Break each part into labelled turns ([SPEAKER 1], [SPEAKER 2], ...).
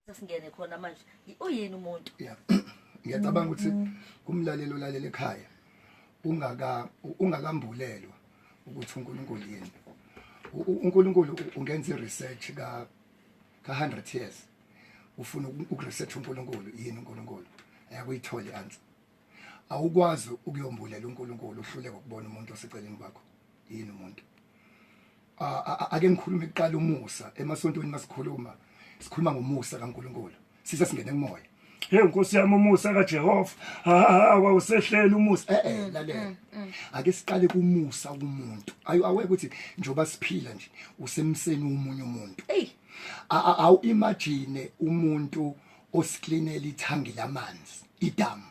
[SPEAKER 1] sesingene khona manje uyini umuntu yeah
[SPEAKER 2] ngiyacabanga ukuthi kumlalelo lalela ekhaya ungaka ungakambulelwa ukuthi uNkulunkulu yini uNkulunkulu ungenza research ka ka 100 years ufuna ukuresearch uNkulunkulu yini uNkulunkulu ayakuyithola answer awukwazi ukuyombulela uNkulunkulu uhluleka ukubona umuntu oseceleni kwakho yini umuntu ake ngikhulume kuqala umusa emasontweni masikhuluma sikhuluma ngomusa kaNkulunkulu sise singene kumoya hey nkosi yami
[SPEAKER 3] umusa kaJehova ha wawusehlela umusa eh eh lalela mm, mm, mm.
[SPEAKER 2] ake siqale kumusa kumuntu ayo aweke ukuthi njoba siphila nje usemseni umunye umuntu hey awu imagine umuntu usiklinela ithangi lamanzi idamu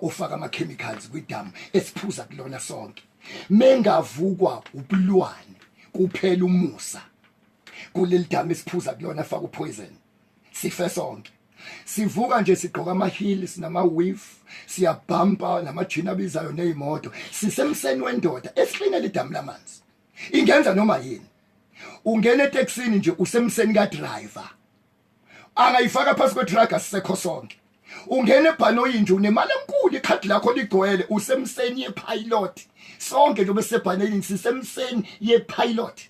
[SPEAKER 2] ufaka ama-chemicals kwidamu esiphuza kulona sonke mengavukwa ubulwane kuphela umusa kuleli damu esiphuza kulona faka upoison sife sonke sivuka nje sigqoka ama-heels nama-wif siyabhampa namajini abizayo neyimoto sisemseni wendoda esihlinela idamu lamanzi ingenza noma yini ungena eteksini nje usemseni kadriver angayifaka phansi kwedrag asisekho sonke ungena ebhanoyi nje unemali enkulu ikhadi lakho ligcwele usemseni yepilot sonke nje besebhanelini sisemseni yepilot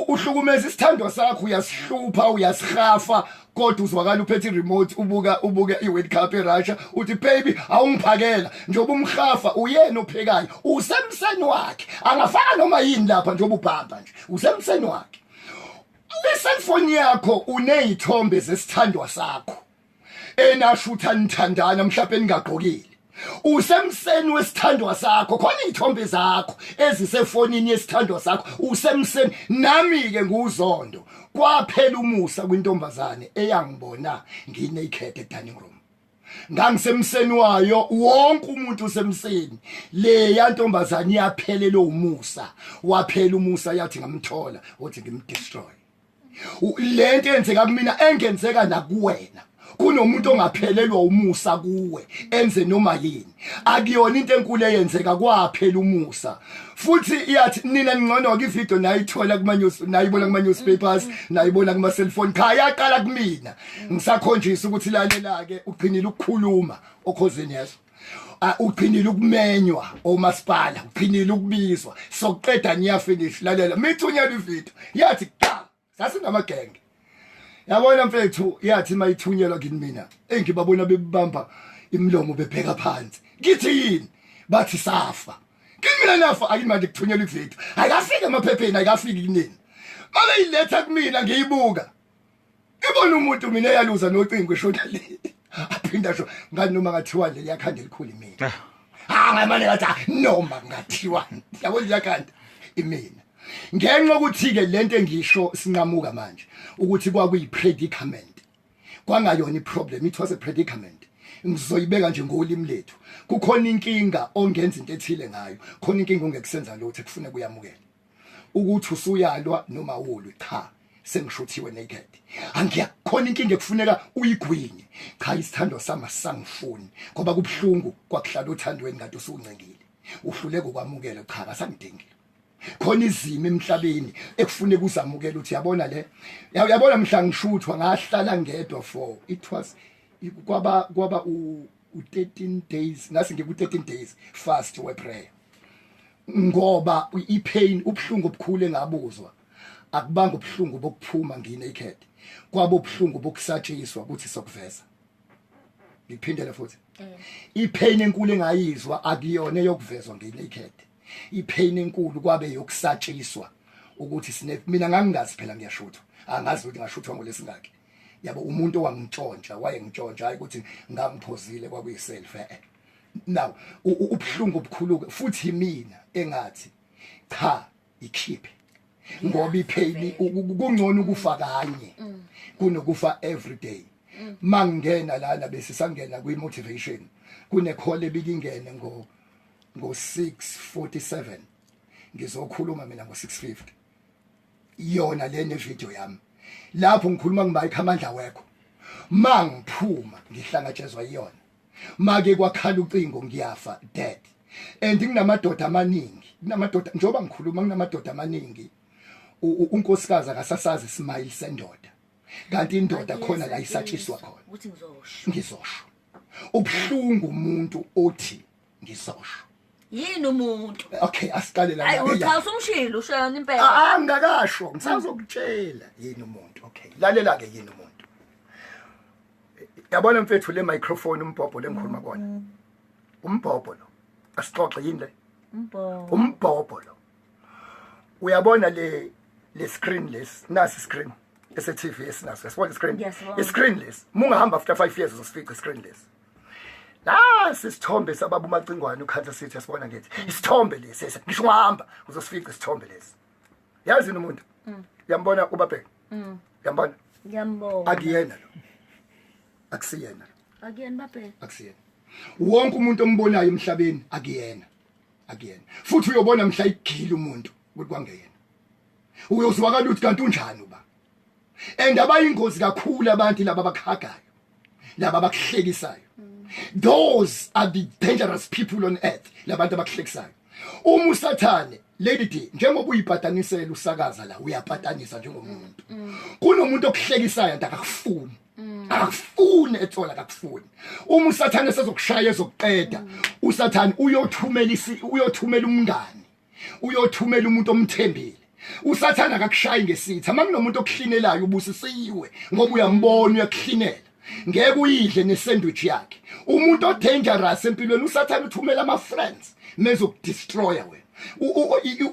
[SPEAKER 2] uhlukumeza isithandwa sakho uyasihlupha uyasihafa kodwa uzwakala uphethe iremote ubuka ubuke iWorld Cup eRussia uthi baby awungiphakela njengoba umhafa uyena ophekayo usemseni wakhe angafaka noma yini lapha njengoba ubhamba nje usemseni wakhe Le cellphone yakho unezithombe zesithandwa sakho. Enashutha nithandana mhlawumbe ningagqokile. Usemseni wesithandwa sakho khona izithombe zakho ezisefonini yesithandwa sakho usemseni nami ke nguzondo kwaphela umusa kwintombazane eyangibona nginaked e dining room. ngangisemseni wayo wonke umuntu usemseni leya ntombazane iyaphelele umusa waphela umusa yathi ngamthola wathi ngimdestroy lento enzeka kumina engenzeka nakuwena kunomuntu ongaphelelwa umusa kuwe enze noma yini akuyona into enkulu eyenzeka kwaphela umusa futhi iyathi nina ningcono ke ivideo nayithola kuma news nayibona kuma newspapers nayibona kuma cellphone cha yaqala kumina ngisakhonjisa ukuthi lalela ke ugcinile ukukhuluma okhozini yeso ugcinile ukumenywa omasipala ugcinile ukubizwa sokuqeda niyafinish lalela mithunyela ivideo yathi cha sasingamagenge yabona mfethu yathi mayithunyelwa kini mina engibabona bebamba imlomo bebheka phansi ngithi yini bathi safa kimina nafa ayimanje kuthunyelwa ivideo ayikafiki emaphepheni ayikafiki kunini mabe iletha kumina ngiyibuka ibona umuntu mina eyaluza nocingo eshona le aphinda sho ngani noma ngathiwa nje liyakhanda elikhulu imina ah. ah ngamane ngathi ah, noma ngathiwa yabo liyakhanda imina ngenxa ukuthi-ke le nto engisho sinqamuka manje ukuthi kwakuyi-predicament kwangayona i-problem it was a predicament ngizoyibeka nje ngolimi lethu kukhona inkinga ongenza into ethile ngayo khona inkinga ongekusenza lutho ekufuneka uyamukele ukuthi usuyalwa noma ulwi cha sengishuthiwe naked angiya khona inkinga ekufuneka uyigwinye cha isithando sami asangifuni ngoba kubuhlungu kwakuhlala othandweni kanti usuncengile uhluleka ukwamukela cha kasangidingile khona izimo emhlabeni ekufune kuzamukela uthi yabona le yabona mhla ngishuthwa ngahlala ngedwa for it was kwaba kwaba u 13 days ngase ngiku 13 days fast we prayer ngoba i pain ubhlungu obukhulu engabuzwa akubanga ubhlungu bokuphuma ngine ikhethe kwabo ubhlungu bokusatshiswa ukuthi sokuveza ngiphindele futhi mm. ipain enkulu engayizwa akuyona yokuvezwa ngenaked ipain enkulu kwabe yokusatshiswa ukuthi sine mina ngangingazi phela ngiyashutha angazi ukuthi ngashuthwa ngolesingaki yabo umuntu owangitshontsha wayengitshontsha hayi ukuthi ngangiphozile kwakuyiself eh, eh. now ubuhlungu obukhulu futhi mina engathi cha ikhiphe ngoba ipheli kungcono ukufa kanye mm. kunokufa everyday mm. mangena lana bese sangena kwi motivation kune call ebikingene ngo ngo 647 ngizokhuluma mina ngo 650 yona le ne video yami lapho ngikhuluma ngibayikho amandla wekho mangiphuma ngihlangatshezwa iyona make kwakhala ucingo ngiyafa dad and nginamadoda amaningi kunamadoda njengoba ngikhuluma kunamadoda amaningi unkosikazi akasasazi smile sendoda kanti indoda khona la isatshiswa khona
[SPEAKER 1] ngizosho
[SPEAKER 2] ubhlungu umuntu othi ngizosho yini
[SPEAKER 1] umuntu okay asiqale la
[SPEAKER 2] ayi uthi usumshilo
[SPEAKER 1] ushayona impela ah, ah ngakasho
[SPEAKER 2] ngisazokutshela yini umuntu okay lalela ke yini umuntu yabona mfethu le microphone umbhobho lengikhuluma kona mm-hmm. umbhobho lo asixoxe yini le umbhobho umbhobho lo uyabona le le screen less nasi screen ese TV esinaso yasibona screen i screen less mungahamba after 5 years uzosifica screen less nasi isithombe sababa umacingwane ukhansa sithi asibona ngithi isithombe lesi ese ngisho ungahamba uzosifica isithombe lesi yazi yini umuntu mm. yambona ubabheka mm. yambona ngiyambona
[SPEAKER 1] akuyena lo
[SPEAKER 2] akusiyena akuyena
[SPEAKER 1] babheka akusiyena
[SPEAKER 2] wonke umuntu ombonayo emhlabeni akuyena akuyena futhi uyobona mhla igila umuntu ukuthi kwangeyena uyozwakala ukuthi kanti unjani uba and abayingozi kakhulu abantu laba bakhagayo laba bakuhlekisayo those are the dangerous people on earth labantu abakuhlekisayo uma usathane lady d njengoba uyibhatanisela usakaza la uyabhatanisa njengomuntu kunomuntu okuhlekisayo nto akakufuni akufuni ethola akakufuni uma usathane sezokushaya ezokuqeda usathane uyothumela uyothumela umngani uyothumela umuntu omthembile usathana akakushayi ngesitha uma kunomuntu okuhlinelayo ubusisiwe ngoba uyambona uyakuhlinela ngeke uyidle nesandwich yakhe umuntu odangerous empilweni usathana uthumela ama friends mezokudestroya wena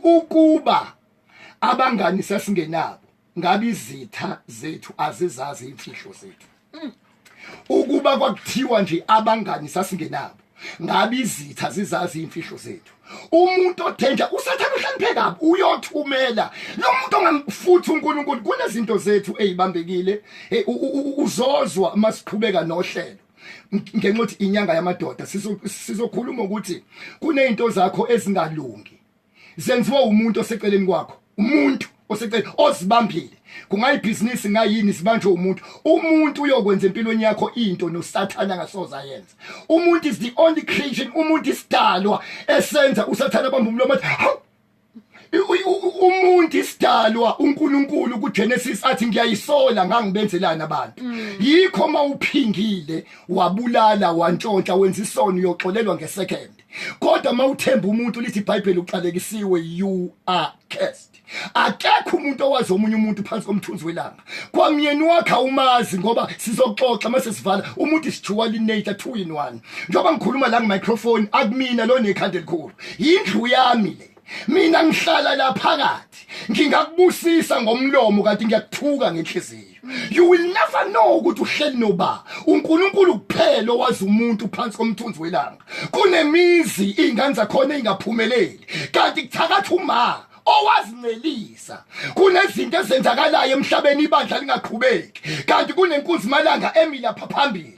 [SPEAKER 2] ukuba abangani sasingenabo ngabe izitha zethu azizazi imfihlo zethu mm. ukuba kwakuthiwa nje abangani sasingenabo ngabe izitha zizazi imfihlo zethu umuntu othenja usathana uhloniphe kabi uyothumela lo muntu ongamfuthi uNkulunkulu kunezinto zethu ezibambekile eh, uzozwa uma siqhubeka nohlelo ngenxa ukuthi inyanga yamadoda sizokhuluma ukuthi kunezinto zakho ezingalungi zenziwe umuntu oseceleni kwakho umuntu oseceleni ozibambile kungayibhizinisi ngayini sibanjwe umuntu umuntu uyokwenza empilweni yakho into nosathane angasoza yenza umuntu is the only creation umuntu isidalwa esenza usathane abamba umlomo athi umuntu isidalwa uNkulunkulu kuGenesis athi ngiyayisola ngangibenzelani abantu mm. yikho mawuphingile wabulala wantshontsha wenza isono uyoxolelwa ngesecond kodwa mawuthemba umuntu lithi iBhayibheli uxalekisiwe you are cursed akekho umuntu owazi omunye umuntu phansi komthunzi welanga kwamyeni wakhe awumazi ngoba sizoxoxa mase sivala umuntu isijuwa linature two in one njengoba ngikhuluma la ngemicrophone akumina lo nekhanda elikhulu yindlu yami le mina ngihlala la phakathi ngingakubusisa ngomlomo kanti ngiyakuthuka ngenhliziyo you will never know ukuthi uhleli noba uNkulunkulu kuphela owazi umuntu phansi komthunzi welanga kunemizi ingane zakhona ingaphumeleli kanti kuthakatha uma owazincelisa kunezinto ezenzakalayo emhlabeni ibandla lingaqhubeki kanti kunenkunzi malanga emilapha phambili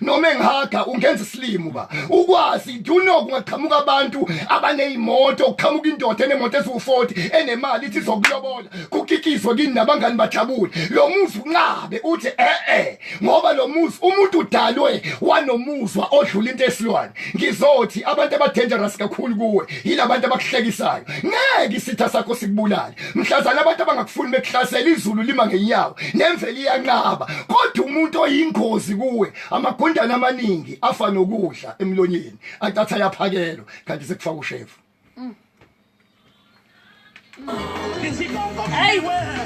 [SPEAKER 2] noma engihaga ungenza isilimo ba ukwazi do you know kungaqhamuka abantu abanezimoto kuqhamuka indoda enemoto eziwu40 enemali ithi zokulobola kukikizwe kini nabangani bajabule lo muzi unqabe uthi eh eh ngoba lo muzi umuntu udalwe wanomuzwa odlula into esilwane ngizothi abantu abadangerous kakhulu kuwe yilabantu abakuhlekisayo ngeke isitha sakho sikubulale mhlazana abantu abangakufuni bekuhlasela izulu lima ngenyawo nemvelo iyanqaba kodwa umuntu oyingozi kuwe amagundane amaningi afa nokudla emlonyeni atatha yaphakelo kanti sekufaka ushefu mm. mm.